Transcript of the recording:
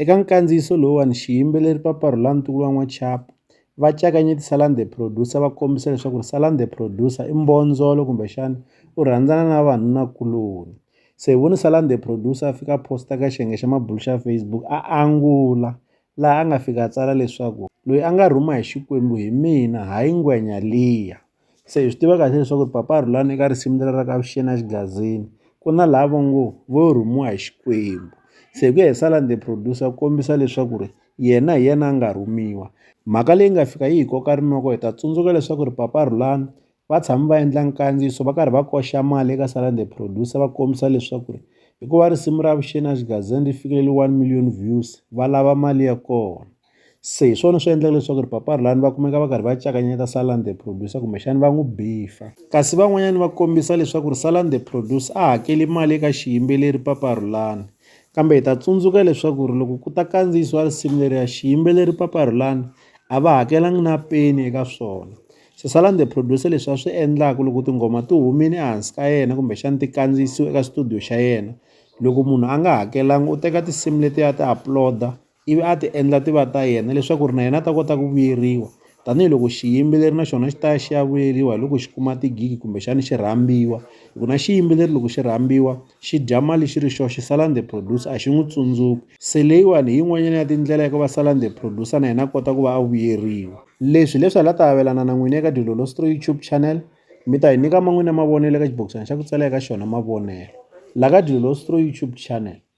Eka nkandziyiso lowuwani, xiyimbeleri Papa Rhulani ntukulu wa N'wachapu, va cakanye ti Salani The Producer va kombisa leswaku ri Salani The Producer i mbondzolo kumbexana u rhandzana na vanunakuloni. Se hi vone Salani The Producer a fika a post-a ka xiyenge xa mabulu xa Facebook a angula laha a nga fika a tsala leswaku loyi a nga rhuma hi Xikwembu hi mina hayi ngwenya liya. se hi swi tiva kahle leswaku ri papa Rhulani eka risimu leri ra ka Avuxeni a xigazini ku na laha va ngo vo rhumiwa hi Xikwembu se hi ku ya hi Salani the producer kombisa leswaku ri yena hi yena a nga rhumiwa mhaka leyi nga fika yi hi koka rinoko hi ta tsundzuka leswaku ri papa Rhulani va tshami va endla nkandziyiso va karhi va koxa mali eka Salani the producer va kombisa leswaku ri hikuva risimu ra Avuxeni a xigazini ri fikile one million views va lava mali ya kona. Se hi swona swi endlaka leswaku ri papa Rhulani va kumeka va karhi va cakanyeta Salani the Producer kumbexana va n'wi bifa. Kasi van'wanyana va kombisa leswaku ri Salani the Producer a hakeli mali eka xiyimbeleri papa Rhulani. Kambe hi ta tsundzuka leswaku ri loko ku ta kandziyisiwa risimu leriya xiyimbeleri papa Rhulani a va hakelanga na peni eka swona. Se Salani the Producer leswi a swi endlaka loko tinghoma ti humile ehansi ka yena kumbexana ti kandziyisiwe eka studio xa yena loko munhu a nga hakelanga u teka tinsimu letiya a ti upload-a ivi a ti endla ti va ta yena leswaku ri na yena a ta kota ku vuyeriwa tanihiloko xiyimbeleri na xona xi ta ya xi ya vuyeriwa hi loko xi kuma tigigi kumbexana xi rhambiwa hi ku na xiyimbeleri loko xi rhambiwa xi dya mali xi ri xoxe xi sala the producer a xi n'wi tsundzuki se leyiwani hi yin'wanyana ya tindlela ya ku va sala the producer na yena a kota ku va a vuyeriwa leswi leswi hala ta avelana na n'wini eka dilolostro YouTube channel mi ta hi nyika man'wini ya mavonelo eka xibokisana xa ku tsala eka xona mavonelo la ka dilolostro YouTube channel.